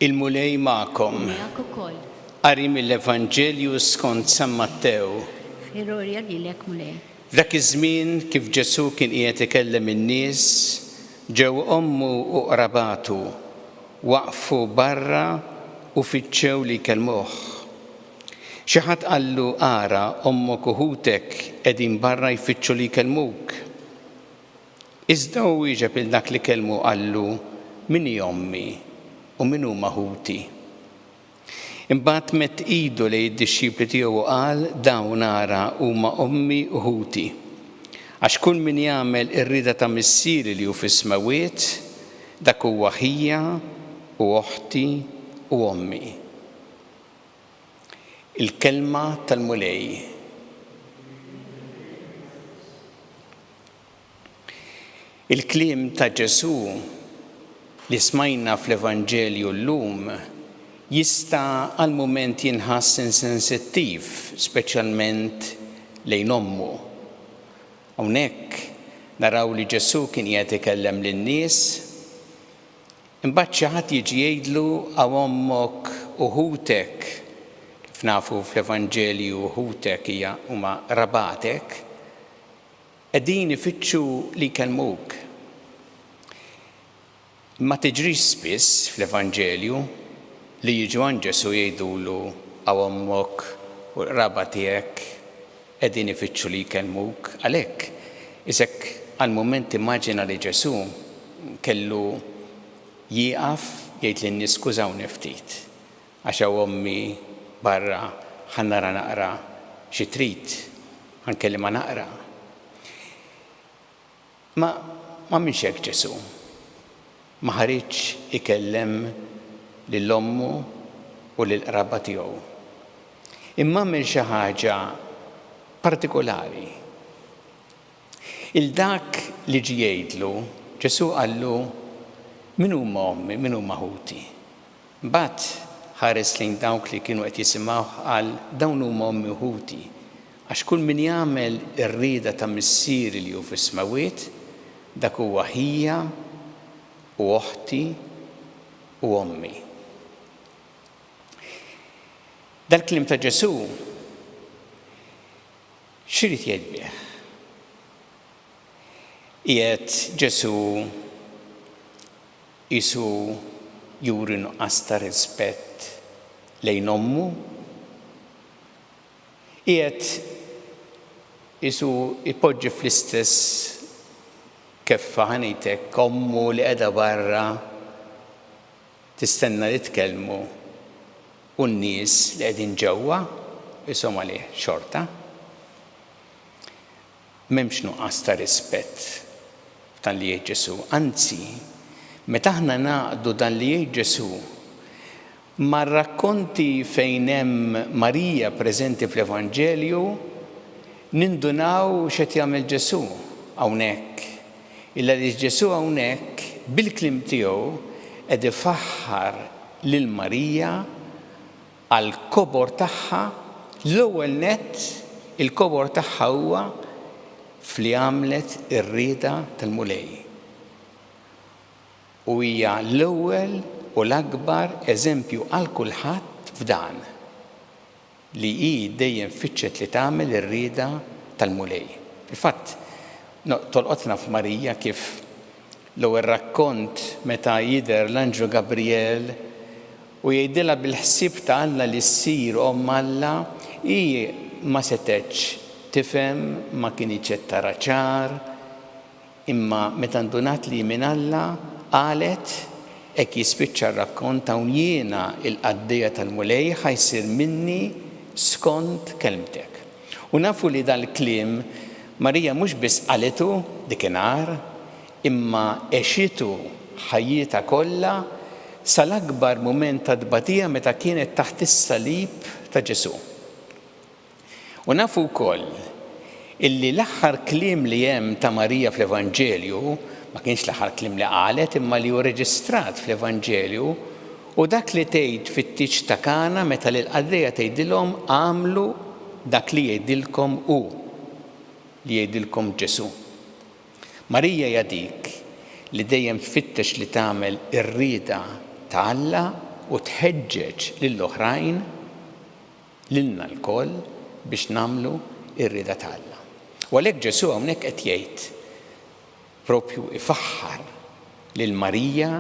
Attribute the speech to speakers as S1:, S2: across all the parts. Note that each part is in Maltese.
S1: Il-Mulej magħkom. Miegħek ukoll.
S2: Qari
S1: mill-Evanġelju skont San Mattew. Glorja
S2: lilek Mulej. Dak iż-żmien
S1: kif Ġesù kien qiegħed ikellem in-nies, ġew ommu u qrabatu, waqfu barra u fittxew li jkellmuh. Xi ħadd qallu, Ara, ommok u ħutek qegħdin barra jfittxu li jkellmuk. Iżda hu wieġeb lil dak li kellmu u qallu, Min hi ommi u min huma ħuti? Imbagħad medd idu lejn id-dixxipli tiegħu u qal, Dawn, ara, huma ommi u ħuti. Għax kull min jagħmel ir-rieda ta' Missieri li hu fis-smewwiet, dak huwa ħija u oħti u ommi. Il-kelma tal-Mulej. Il-kliem ta' Ġesù li smajna fl-Evanġelju llum jista' għal mument jinħass insensittiv, speċjalment lejn ommu. Hawnhekk naraw li Ġesù kien qiegħed ikellem lin-nies Imbagħad xi ħadd jiġi jgħidlu hawn ommok u ħutek, kif nafu fl-Evanġelju ħutek hija huma qrabatek, qegħdin ifittxu li jkellmuk. Ma tiġrix spiss fl-Evanġelju li jiġu għand Ġesù jgħidulu hawn ommok u l-qraba tiegħek. Qegħdin ifittxu li jkellmuk għalhekk. Isek għal mument immaġina li Ġesù kellu jieqaf jgħid lin-nies skużawni ftit għax hawn ommi barra ħa nara naqra xi trid, ħa nkellimha naqra. Ma għamilx hekk Ġesù. Ma ħariġx ikellem lil ommu u lill-qraba tiegħu. Imma għamel xi ħaġa partikulari. 'il dak li ġie jgħidlu, Ġesù qallu, Min huma ommi, min huma ħuti? Mbagħad ħares lejn dawk li kienu qed jisimgħuh qal, Dawn huma ommi u ħuti. Għax kull min jagħmel ir-rieda ta' Missieri li hu fis-smewwiet, dak huwa ħija u oħti u ommi. Dal-kliem ta' Ġesù x'irid jgħid bih? Qiegħed Ġesù Qisu juri nuqqas ta' rispett lejn ommu. Qiegħed qisu jpoġġi fl-istess keffa, ħa ngħid hekk, ommu li qiegħda barra tistenna li tkellmu u n-nies li qegħdin ġewwa qishom għalih xorta. M'hemmx nuqqas ta' rispett f'dan li jgħid Ġesù. Anzi, meta aħna ngħaqqdu dan li jgħid Ġesù mar-rakkonti fejn hemm Marija preżenti fl-Evanġelju, nindunaw x'qed jagħmel Ġesù hawnhekk. Ilgħaliex Ġesù hawnhekk, bil-kliem tiegħu, qed ifaħħar lil Marija, għall-kobor tagħha, l-ewwel nett il-kobor tagħha huwa f'li għamlet ir-rieda tal-Mulej. U hija l-ewwel u l-akbar eżempju għal kulħadd f'dan, li hi dejjem fittxet li tagħmel ir-rieda tal-Mulej. Fil-fatt, tolqotna f'Marija kif l-ewwel rakkont meta jidher l-anġlu Gabrijel, U jgħidilha bil-ħsieb ta' Alla li ssir omm Alla, hi ma setgħetx tifhem, ma kinitx qed tara ċar, imma meta ndunat li hi minn Alla, qalet, Hekk jispiċċa r-rakkont hawn jiena, il-qaddejja tal-Mulej, ħa jsir minni skont kelmtek. U nafu li dal-kliem Marija mhux biss qalitu dik inhar, imma għexitu ħajjitha kollha sal-akbar mument ta' tbatija meta kienet taħt is-salib ta' Ġesù. U nafu wkoll illi l-aħħar kliem li hemm ta' Marija fl-Evanġelju, ma kienx l-aħħar kliem li qalet imma li hu reġistrat fl-Evanġelju, hu dak li tgħid fit-tieġ ta' Kana meta lill-qaddejja tgħidilhom agħmlu dak li jgħidilkom hu, li jgħidilkom Ġesù. Marija hija dik li dejjem tfittex li tagħmel ir-rieda ta' Alla u tħeġġeġ lill-oħrajn, lilna lkoll, biex nagħmlu r-rieda ta' Alla. U għalhekk Ġesù hawnhekk qed jgħid, proprju ifaħħar lil Marija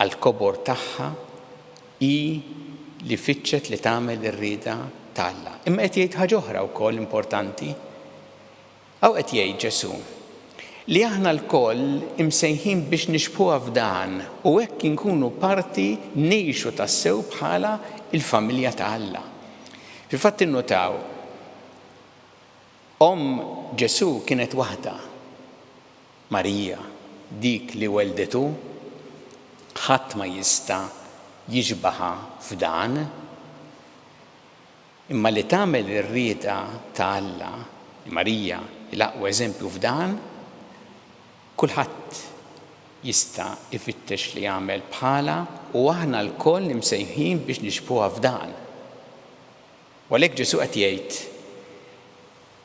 S1: għall-kobor tagħha, hi li fittxet li tagħmel ir-rieda ta' Alla. Imma qed jgħid ħaġa oħra wkoll importanti, Hawn qed jgħid Ġesù li aħna lkoll imsejħin biex nixbħuha f'dan u hekk inkunu parti ngħixu tassew bħala l-familja ta' Alla. Fil-fatt innutaw, omm Ġesù kienet waħda, Marija, dik li welldetu. Ħadd ma jista' jixbaħha f'dan. Imma li tagħmel ir-rieda ta' Alla, Marija hi l-aqwa eżempju f'dan, kulħadd jista' jfittex li jagħmel bħalha u aħna lkoll imsejħin biex nixbħuha f'dan. U għalhekk Ġesù qed jgħid,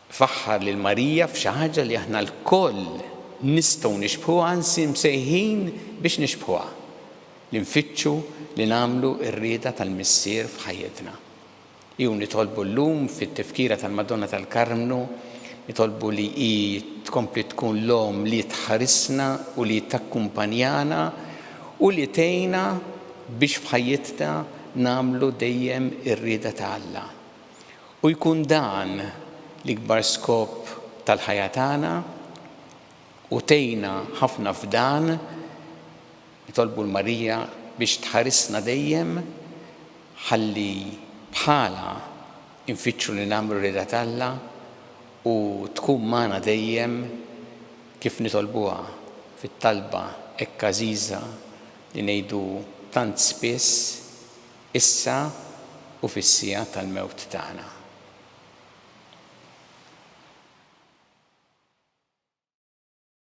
S1: Faħħar lil Marija f'xi ħaġa li aħna lkoll nistgħu nixbħuha anzi msejħin biex nixbħuha, li nfittxu li nagħmlu r-rieda tal-Missier f'ħajjitna. Hi u nitolbu llum fit-Tifkira tal-Madonna tal-Karmnu, nitolbu li hi tkompli tkun l-Omm li tħarisna u li takkumpanjana u li tgħinna biex f'ħajjitna nagħmlu dejjem ir-rieda ta' Alla. U jkun dan l-ikbar skop tal-ħajja tagħna u tgħinna ħafna f'dan. Nitolbu 'l Marija biex tħarisna dejjem ħalli bħalha nfittxu li nagħmlu r-rieda t'Alla u tkun magħna dejjem kif nitolbuha fit-talba hekk għażiża li ngħidu tant spiss. Issa u fis-siegħa tal-mewt tagħna.